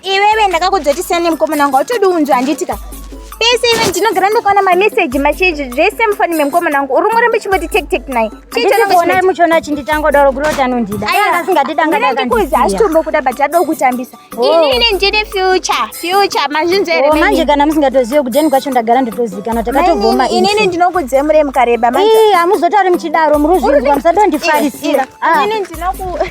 iwewe ndakakudzotisa nemukomana wanga utodi unzwa handiti ka pese ive ndinogara ndakaona mameseji macheji zvese mufoni memukomana wangu uri murembe chimboti tek tek naye chiiona muchiona chinditanga kudaro kuroti anondida asingatidangandikuzi achitombo kuda but ado kutambisa oh. inini ndine future future mazvinzere oh, manje kana musingatozive kudeni kwacho ndagara ndotozikana takatogoma inini ndinokudze muremu kareba manje hamuzotauri muchidaro muri uzvinzwa musadondifarisira ah. inini ndinoku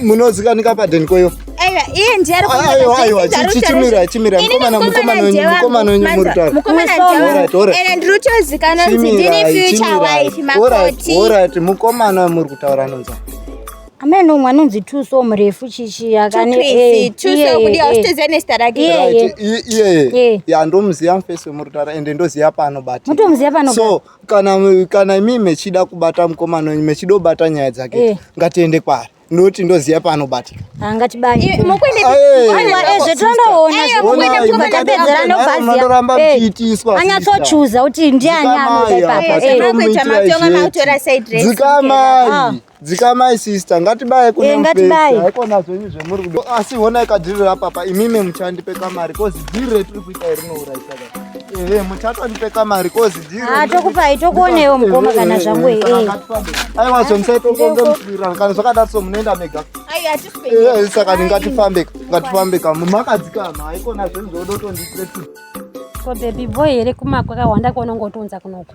munozivanika paden koyo mukomana muri kutaura anonza amai nomwe anonzi tuso murefu chichi akaneiyeye ndomuziva mufesi wemurutara ende ndoziva paanobatimutomuziva panoso kana kana imi mechida kubata mukomana wenyu mechida kubata nyaya dzake eh. ngatiende kwaari noti ndoziva paanobatika angatibaiezvetondoonazvandoramba mchiitiswa anyatsochuza kuti ndiani anoita ipapadzikamai Dzikamai sister, ngatibaye kuna eh, mupesa. Haikona zvenyu zvemuri kudo. Asi honai kadhiri rapapa, imimi muchandipe kamari, kozi dhiri retiri kuita iri nouraisa kaka. Ehe, eh, muchatondipe kamari, kozi dhiri. Ah, tokupai, tokuonewo mukoma eh, kana zvangu ehe. Aiwa, zve musaitokonge musvirana, kana zvakadaro so munoenda mega. Ai, hatisipei. Ehe, saka ngatifambe, ngatifambe kama. Makadzikama, haikona zvenyu zvodotondipe. Ko baby boy here kumakwa kawanda kuonongotunza kunoku.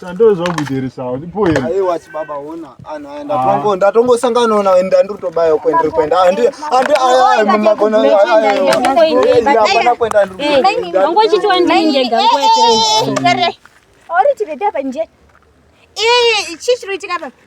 Sando zvakuiteresawo ndipo here? Aiwa chibaba ona anhu aya ndatongo ah. ndatongosangana nawo enda ndiri kutobaya uko ndiri kuenda andi andi aya mumagona aya hapana kuenda ndiri wangu chiti wandinjega kwete. Ori tikadapa nje. Eh chichiro tikapa.